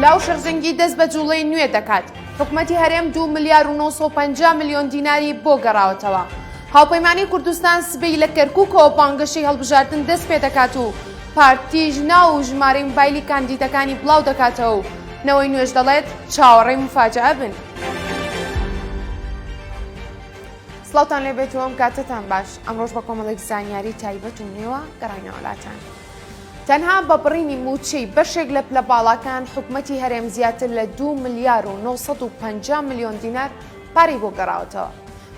لاو شەرزنگی دەست بە جوڵەی نوێ دەکات حکومەتی هەرێم دو ملیار و 950 میلیۆن دیناری بۆ گەڕاوەتەوە هاوپەیمانی کوردستان سبەی لە کەرکووکەوە بانگەشەی هەڵبژاردن دەست پێ دەکات و پارتیش ناو و ژمارەی موبایلی کاندیدەکانی بڵاو دەکاتەوە و نەوەی نوێش دەڵێت چاوەڕێی مفاجعە بن. سڵاوتان لێبێت و ئەم کاتتان باش ئەمڕۆژ بە کۆمەڵێک زانیاری تایبەت و نوێوە گەڕینەوەلاتان تەنها بە بڕینی موچەی بەشێک لە پلە باڵاکان حکوومەتی هەرێم زیاتر لە 2 ملیار و 950 میلیۆن دینار پارەی بۆ گەڕاوەتەوە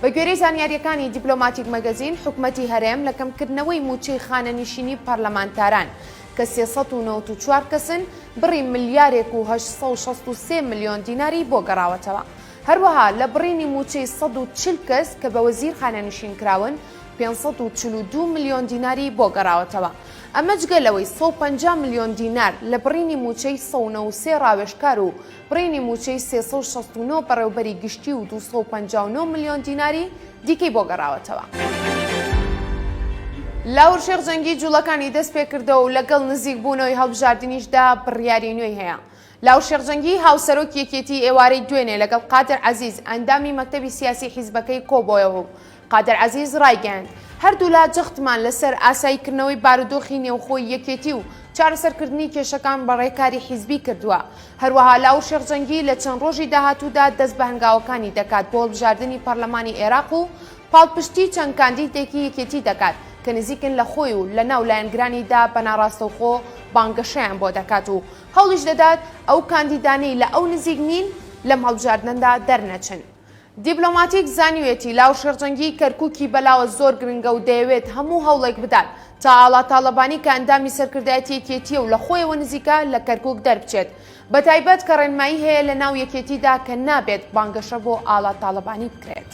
بە گوێرەی زانیاریەکانی دیپلۆماتیک مەگەزین حکوومەتی هەرێم لە کەمکردنەوەی موچەی خانەنیشینی پەرلەمانتاران کە 1994 کەسن بڕی ملیارێک و 1963 میلیۆن دیناری بۆ گەڕاوەتەوە هەروەها لە بڕینی مووچەی سەد و چل کەس کە بە وەزیر خانەنشین کراون، پێنج سەد و چل و دوو ملیۆن دیناری بۆ گەڕاوەتەوە. ئەمە جگە لەوەی سەد و پەنجا ملیۆن دینار لە بڕینی مووچەی سەد و نەوەد و سێ ڕاوێژکار و بڕینی مووچەی سێ سەد و شەست و نۆ بەڕێوبەری گشتی و دوو سەد و پەنجا و نۆ ملیۆن دیناری دیکەی بۆ گەڕاوەتەوە. لاهور شێخ جەنگی جووڵەکانی دەست پێکردەوە و لەگەڵ نزیک بوونەوەی هەڵبژاردنیشدا بڕیاری نوێی هەیە. لاو شێخ جەنگی، هاوسەرۆکی یەکێتی ئێوارەی دوێنێ لەگەڵ قادر عەزیز ئەندامی مەکتەبی سیاسی حیزبەکەی کۆبۆیەوە و قادر عەزیز رایگەیاند، هەردوولا جەختمان لەسەر ئاساییکردنەوەی بارودۆخی نێوخۆی یەکێتی و چارەسەرکردنی کێشەکان بە رێکاری حیزبی کردووە، هەروەها لاو شێخ جەنگی لە چەند رۆژی داهاتوودا دەست بە هەنگاوەکانی دەکات بۆ هەڵبژاردنی پەرلەمانی عێراق و پاڵپشتی چەند کاندیدێکی یەکێتی دەکات کە نزیکن لە خۆی و لەناو لایەنگرانیدا بەناڕاستەوخۆ بانگەشەیان بۆ دەکات و هەوڵیش دەدات ئەو کاندیدانەی لە ئەو نزیک نین لەم هەڵبژاردنەدا دەرنەچن. دیبلۆماتیک زانیویەتی لاو شێرجەنگی کەرکوکی بەلاوە زۆر گرنگە و دەیەوێت هەموو هەوڵێک بدات تا ئاڵا تاڵەبانی کە ئەندامی سەرکردایەتی یەکێتییە و لە خۆیەوە نزیکە لە کەرکوک دەربچێت بەتایبەت کە ڕێنمایی هەیە لەناو یەکێتیدا کە نابێت بانگەشە بۆ ئاڵا تاڵەبانی بکرێت.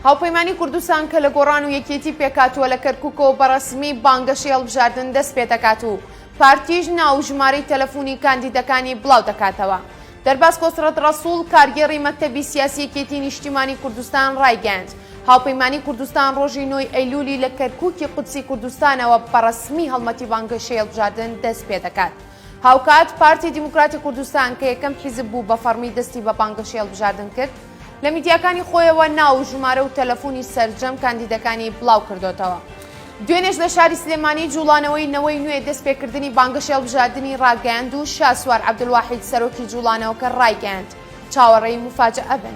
هاوپەیمانی کوردستان کە لە گۆڕان و یەکێتی پێکاتوە لە کەرکوکەوە بەڕەسمی بانگەشەی هەڵبژاردن دەست پێدەکات و پارتیش ناو و ژمارەی تەلەفونی کاندیدەکانی بڵاو دەکاتەوە. دەرباز کۆسرەت ڕەسوڵ کارگێڕی مەکتەبی سیاسی یەکێتی نیشتیمانی کوردستان ڕایگەیاند، هاوپەیمانی کوردستان ڕۆژی نۆ ی ئەیلولی لە کەرکوکی قودسی کوردستانەوە بەڕەسمی هەڵمەتی بانگەشەی هەڵبژاردن دەست پێدەکات. هاوکات پارتی دیموکراتی کوردستان کە یەکەم حیزب بوو بە فەڕمی دەستی بە بانگەشەی هەڵبژاردن کرد، لە میدیاکانی خۆیەوە ناو و ژمارە و تەلەفونی سەرجەم کاندیدەکانی بڵاو کردۆتەوە. دوێنێش لە شاری سلێمانی جوڵانەوەی نەوەی نوێ دەست پێ کردنی بانگەشەی هەڵبژاردنی ڕاگەیاند و شاسوار عەبدولواحید سەرۆکی جوڵانەوەکە ڕایگەیاند چاوەڕێی موفاجەئە بن.